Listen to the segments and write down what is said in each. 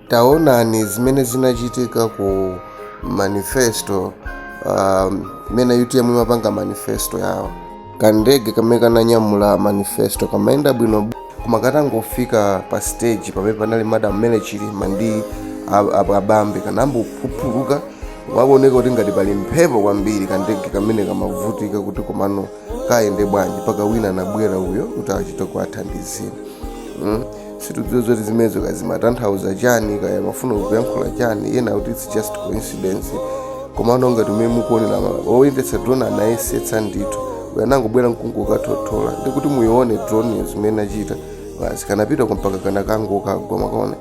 taonani zimene zinachitika ku manifesto um, imene um, utm imapanga manifesto yawo kandege kamene kananyamula manifesto kamayenda bwino koma katangofika pa stage pamene panali madam Mary Chilima ndi ab- ab- abambe kanambophupuluka wakuoneka kuti ngati pali mphepo kwambiri kandege kamene kamavutika kuti komano kayende bwanji mpaka wina anabwera uyo kuti achite kukathandizira mm? sitikudziwa zoti zimenezo kazimatanthauza chani kaya mafuna kuyankhula chani ena akuti its just coincidence komano ngati umene mukuonera oyendetsa drone anayesetsa ndithu anangobwera nkungokathothola ndikuti muyione drone zimene inachita basi kanapita mpaka kana kangokagwa mwakaona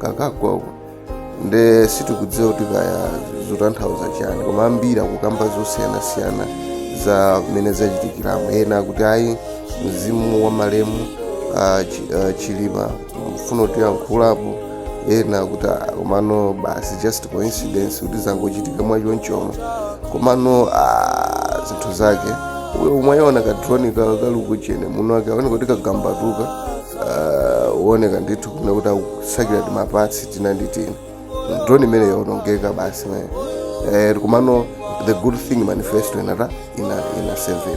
kakagwa uko nde sitikudziwa kuti kaya zikutanthauza chani koma ambiri akukamba zosiyanasiyana za mmene zachitikiramo ena akuti ayi mzimu wa malemu ah, Chi- ah, chilima umafuna kutiyankhulapo ena akuti "Ah, komano basi just coincidence kuti zangochitika mwachonchomo komano ah, zinthu zake uyo umayiona kadroni kali kuchani muno wakuoneka kuti kagambatuka ah, uoneka ndithu kuna kuti akusakira timapatsi tina ndi tina droni imene yaonongeka basi mene eh, komano the good thing manifesto inata ina, ina seven